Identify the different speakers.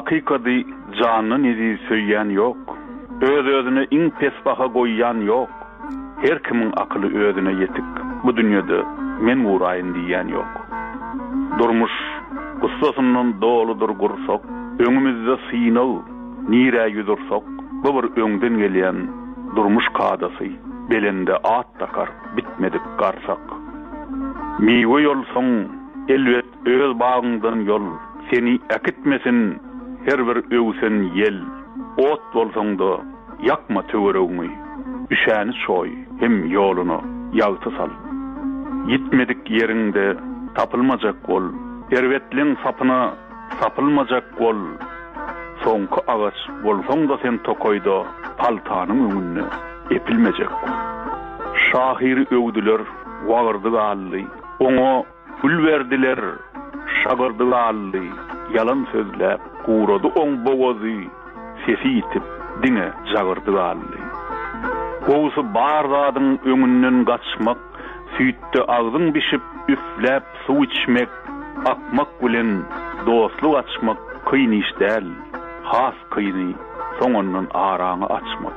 Speaker 1: Hakykady jandan eziz söýýän ýok, Öz-özüne iň pes baha goýýan ýok, Her kimiň akyly özüne ýetik, Bu dünýede men guraýyn diýýän ýok. Durmuş gussasyndan doludyr gursak, Öňümizde synag, nirä ýüz ursak, Bu bir öňden gelýän durmuş kadasy, Belende at dakar, bitmedik garsak. Miwe ýolsuň, elbet, öz bagyňdan ýol, seni äkitmesin her bir öwsen ýel. Ot bolsaň-da, ýakma töweregiňi, üşäni çoý hem ýoluna ýagty sal. Ýitmedik ýeriňde tapylmajak ol, erbetligiň sapyna. Sapylmajak bol, soňky agaç bolsaň-da sen tokaýda paltanyň öňünde epilmejek bol. Şahyry öwdüler, wagyrdy galdy, oňa gül berdiler, şagyrdy galdy, ýalan sözläp, gurady oň bogazy, sesi ýitip, diňe jagyrdy galdy. Gowusy bar zadyň öňünden gaçmak, Süýtde agzyň bişip, üfläp suw içmek, akmak bilen dostluk açmak kyn iş däl. Has kyny, soňundan araňy açmak.